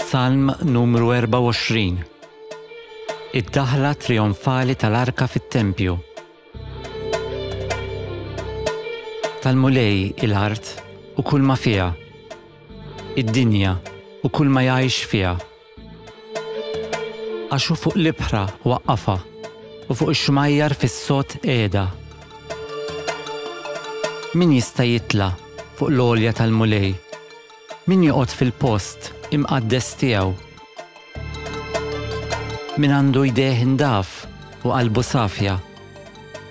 Salm numru 24 Id-daħla trionfali tal-arka fit-tempju. Tal-mulej il-art u kull ma fiha. Id-dinja u kull ma jgħix fiha. Għax hu fuq l-ibħra waqqafha u fuq ix-xmajjar fis-sod qiegħda. Min jista' jitla' fuq l-għolja tal-Mulej? Min joqgħod fil-post imqaddes tiegħu? Min għandu jdejh ndaf u qalbu safja,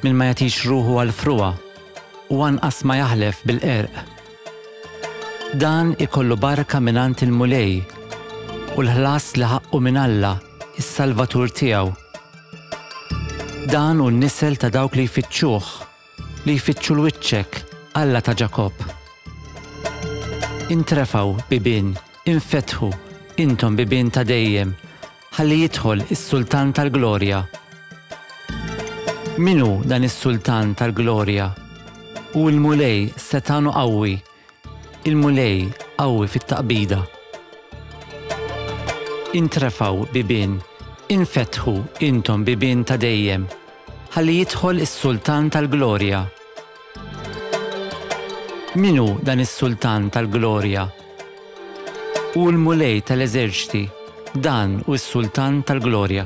min ma jagħtix ruħu għall-frugħa u anqas ma jaħlef bil-qerq. Dan ikollu barka mingħand il-Mulej, u l-ħlas li ħaqqu minn Alla, is-Salvatur tiegħu. Dan hu n-nisel ta' dawk li jfittxuh, li jfittxu 'l wiċċek, Alla ta' Ġakobb. Intrefgħu, bibien, infetħu, intom bibien ta' dejjem, ħalli jidħol is-Sultan tal-Glorja. Min hu dan is-Sultan tal-Glorja? Hu l-Mulej setgħan u qawwi, il-Mulej qawwi fit-taqbida. Intrefgħu bibien, infetħu intom bibien ta' dejjem, ħalli jidħol is-Sultan tal-Glorja. Min hu dan is-Sultan tal-glorja? Hu l-Mulej tal-eżerċti, dan hu s-Sultan tal-glorja.